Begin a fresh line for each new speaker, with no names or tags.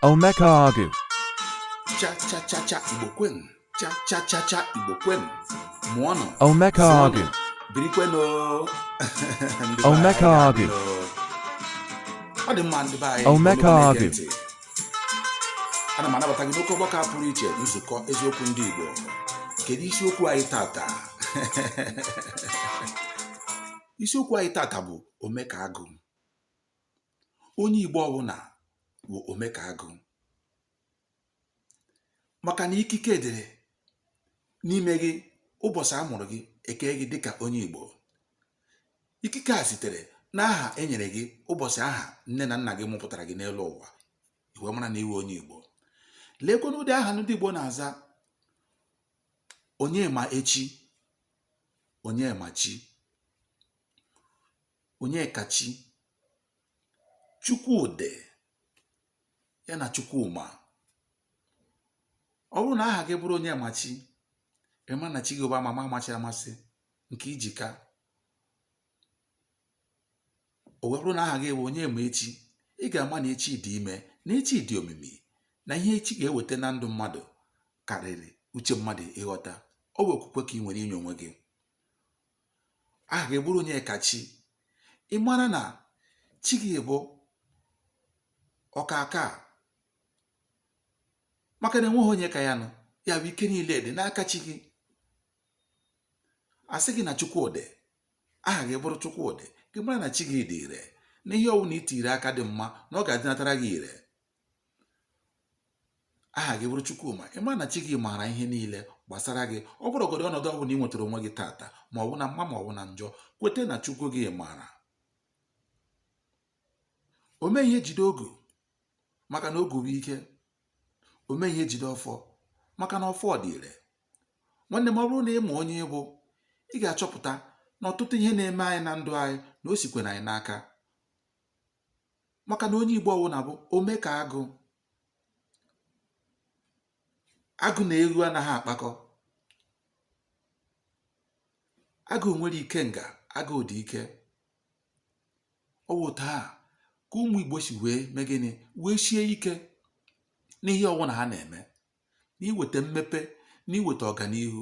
Omekaagụ.
Cha cha cha cha Igbo kwenu. Cha cha cha cha Igbo kwenu. Mụọnụ. Omekaagụ.
Birikwenu. Omekaagụ.
Ọ dị mma ndị be anyị. Omekaagụ. Ana m anabata gị n'oke ọgbakọ pụrụ iche nzukọ eziokwu ndị Igbo. Kedu isiokwu anyị tata? isiokwu anyị tata bụ Omekaagụ. onye Igbo ọwụna wụ omekaagụ maka na ikike dịrị n'ime gị ụbọchị a mụrụ gị ekee gị dịka onye Igbo ikike a sitere n'aha e nyere gị ụbọchị ahụ nne na nna gị mụpụtara gị n'elu ụwa i wee mara na ị wụ onye Igbo leekwanụ ụdị aha ndị Igbo na-aza Onyemaechi Onyemachi Onyekachi, Chukwudị ya na Chukwuma ọ bụrụ na aha gị bụrụ Onyemachi ị ma na chi gị bụ amama amachi amasị nke ijika o wee bụrụ na aha gị bụ Onyemaechi ị ga-ama na echi dị ime na echi dị omimi na ihe echi ga-eweta na ndụ mmadụ karịrị uche mmadụ ịghọta ọ bụ okwukwe ka ị nwere inye onwe gị aha gị bụrụ Onyekachi ị mara na chi gị bụ ọkaka maka na enweghị onye ka ya nọ ya bụ ike niile dị n'aka chi gị a sị gị na Chukwudị aha gị bụrụ Chukwudị gị mara na chi gị dị ire na ihe ọwụna i tiri aka dị mma na ọ ga-adịnatara gị ire aha gị bụrụ Chukwuma ị ma na chi gị maara ihe niile gbasara gị ọ bụrụgodị ọnọdụ ọbụla ị nwetara onwe gị tata ma ọ bụ na mma ma ọ bụ na njọ kwete na Chukwu gị maara ome ihe jide ogu maka na ogu bụ ike ome ihe jide ọfọ maka na ọfọ dị ire nwanne m ọ bụrụ na ị ma onye ị bụ ị ga-achọpụta na ọtụtụ ihe na-eme anyị na ndụ anyị na o sikwara anyị n'aka maka na onye Igbo ọwụna bụ omekaagụ agụ na ewu anaghị akpakọ agụ nwere ikenga agụ dị ike ọ wụ otu ahụ ka ụmụ Igbo si wee mee gịnị wee sie ike n'ihe ọwụna ha na-eme n'iweta mmepe n'iweta ọganihu